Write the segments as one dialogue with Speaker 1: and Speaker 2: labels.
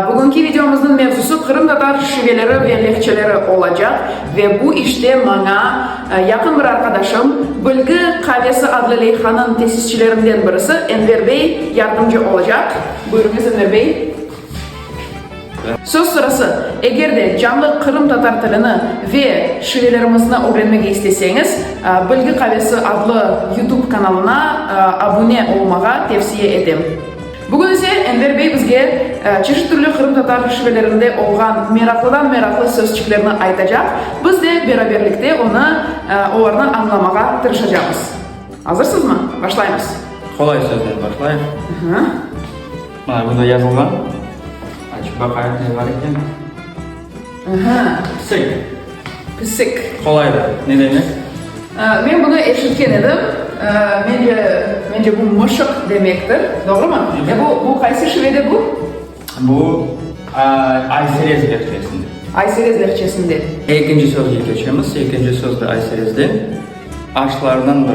Speaker 1: Bugünki videomıznıñ mevzusı qırımtatar şiveleri ve lehçeleri olacaq, ve bu işte maña yaqın bir arqadaşım, Bilgi Qavesi adlı leyhanıñ tesisçilerinden birisi Enver bey yardımcı olacaq. Buyurıñız, Enver bey. Söz sırası, eger de canlı qırımtatar tilini ve şivelerimizni ögrenmege isteseñiz, Bilgi Qavesi adlı YouTube kanalına abune olmağa tevsiye etem. Bugün ise Enver bey bizge çeşit türlü qırımtatar şivelerinde olğan meraqlıdan-meraqlı sözçiklerni aytacaq, biz de beraberlikte onı, olarnı añlamağa tırışacağımız. Azırsızmı? Başlaymız. Qolay sözden
Speaker 2: başlayıq. Hı. Mana, bunda yazılğan. Açıp baqayıq, ne bar eken. Aha. Pisik. Pisik.
Speaker 1: Qolaydı. Ne
Speaker 2: demek? Men bunı
Speaker 1: eşitken edim. Mence, mence bu mışıq demektir. Doğrumı? E bu, bu qaysı şivede bu? Bu
Speaker 2: Ayserez lehçesinde. Ayserez lehçesinde.
Speaker 1: Ekinci sözge
Speaker 2: keçemiz. Ekinci söz de Ayserezden. Aşlardan biri.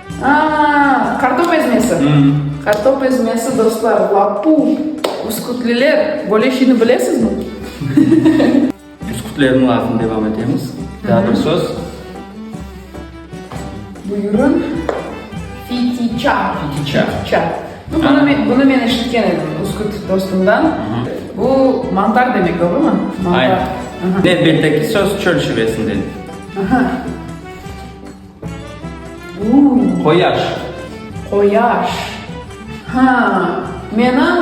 Speaker 2: Aa,
Speaker 1: kartop ezmesi. Kartop ezmesi, dostlar, lapu. Üskütliler böyle şeyni bilesizmi? Üskütlerniñ
Speaker 2: lafını devam etemiz. Daa bir söz.
Speaker 1: Buyurun. Fitiça. Fitiça. Fitiça.
Speaker 2: Bu, bunu, men,
Speaker 1: bunu men eşitken edim Üsküt dostumdan. Bu mantar demek, doğru mu? Mantar. Aynen. Aha.
Speaker 2: Elbette ki söz çöl şivesinde. Aha. Qoyaş. Qoyaş.
Speaker 1: Ha, menim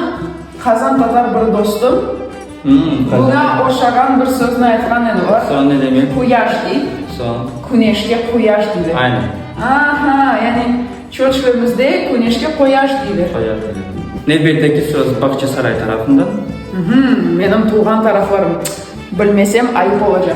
Speaker 1: qazan tatar bir dostum buña oşağan bir sözni aytqan edi. Olar. Soñ ne demek? Quyaş
Speaker 2: dey.
Speaker 1: Soñ? Küneşke
Speaker 2: quyaş
Speaker 1: deyler. Aynı. Aha,
Speaker 2: yani
Speaker 1: Çoçkemizde küneşke quyaş deyler. Qoyaş deyler.
Speaker 2: Nevbetteki söz Bağçasaray tarafından. Menim
Speaker 1: tuvğan taraflarım. Bilmesem ayıp olacaq.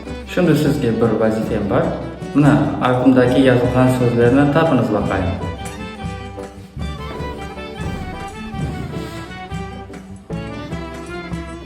Speaker 1: Şimdi
Speaker 2: sizge bir vazifem bar. Mına, ardımdaki yazılğan sözlerni tapıñız baqayım.